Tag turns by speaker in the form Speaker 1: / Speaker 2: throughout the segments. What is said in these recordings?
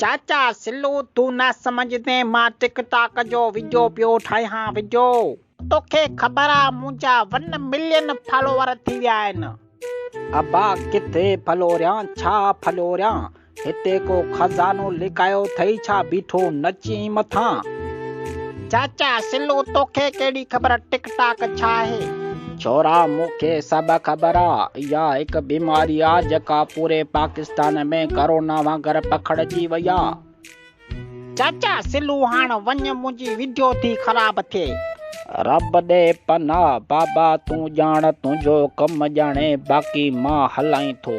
Speaker 1: چاچا سلو تون نه سمجهندين مان ٽڪ ٽاڪ جو وڊيو پيو ٺاهيان وڊيو. توکي خبر آ منهنجا ون ملين فالوور ٿي ويا آهن. ابا
Speaker 2: ڪٿي ڦلوريان ڇا ڦلوريان هتي ڪو خزانو لڪايو ٿئي ڇا بيٺو نچين مٿان.
Speaker 1: چاچا سلو توکي ڪهڙي خبر ٽڪ ٽاڪ ڇا آهي. ڇورا
Speaker 2: مون کي سڀ خبر آ اها هڪ بيماري آ جيڪا پوري پاڪستان ۾ ڪرونا وانگر پکڙجي وئي آ.
Speaker 1: چاچا سلو هاڻ وڃ منهنجي ويڊيو ٿي خراب ٿئي. رب ڏي
Speaker 2: پناهه بابا تون ڄاڻ تنهنجو ڪم ڄاڻي باقي مان هلائين ٿو.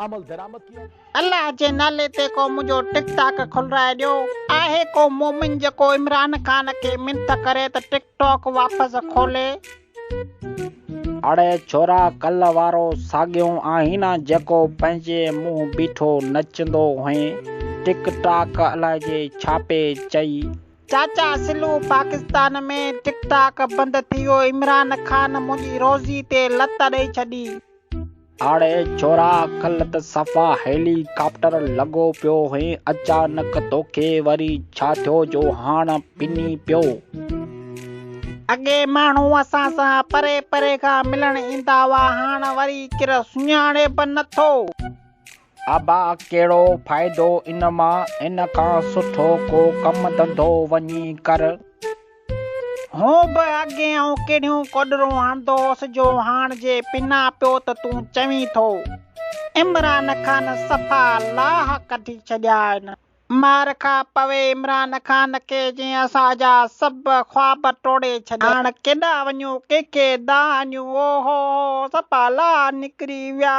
Speaker 3: الله جي نالي
Speaker 1: تي ڪو منهنجو ٽڪ ٽاڪ کلرائي ڏيو آهي ڪو مومن جيڪو عمران خان کي منٿ ڪري ته ٽڪ ٽاڪ واپس کولي. اڙي
Speaker 2: ڇورا ڪلهه وارو ساڳيون آهين جيڪو پنهنجي منهن بيٺو نچندو هئين ٽڪ ٽاڪ الائجي ڇاپي چئي. چاچا
Speaker 1: سلو پاڪستان ۾ ٽڪ ٽاڪ بند ٿي ويو عمران خان منهنجي روزي تي لت ڏئي ڇڏي. آڙي
Speaker 2: ڇورا ڪلھ ته صفا هيلي ڪاپٽر لڳو پيو هئين اچانڪ توکي وري ڇا ٿيو جو هاڻ پني پيو.
Speaker 1: اڳي ماڻهو اسان سان پري پري کان ملڻ ايندا هئا هاڻ وري ڪير سڃاڻي به نٿو.
Speaker 2: ابا ڪهڙو فائدو ان مان، ان کان سٺو ڪو ڪم ڌنڌو وڃي ڪر.
Speaker 1: هون به اڳي آئون ڪهڙيون ڪوڏرون هڻندو هوس جو هاڻ جي پنا پيو ته تون چوين ٿو. عمران کان صفا لاهه ڪڍي ڇڏيا آهن. مار کان پوء عمران خان کي جنهن اسان جا سڀ خواب ٽوڙي ڇڏيا. هاڻ ڪيڏا وڃون ڪنهن کي دانهيون او هو هو سپا لا نڪري ويا.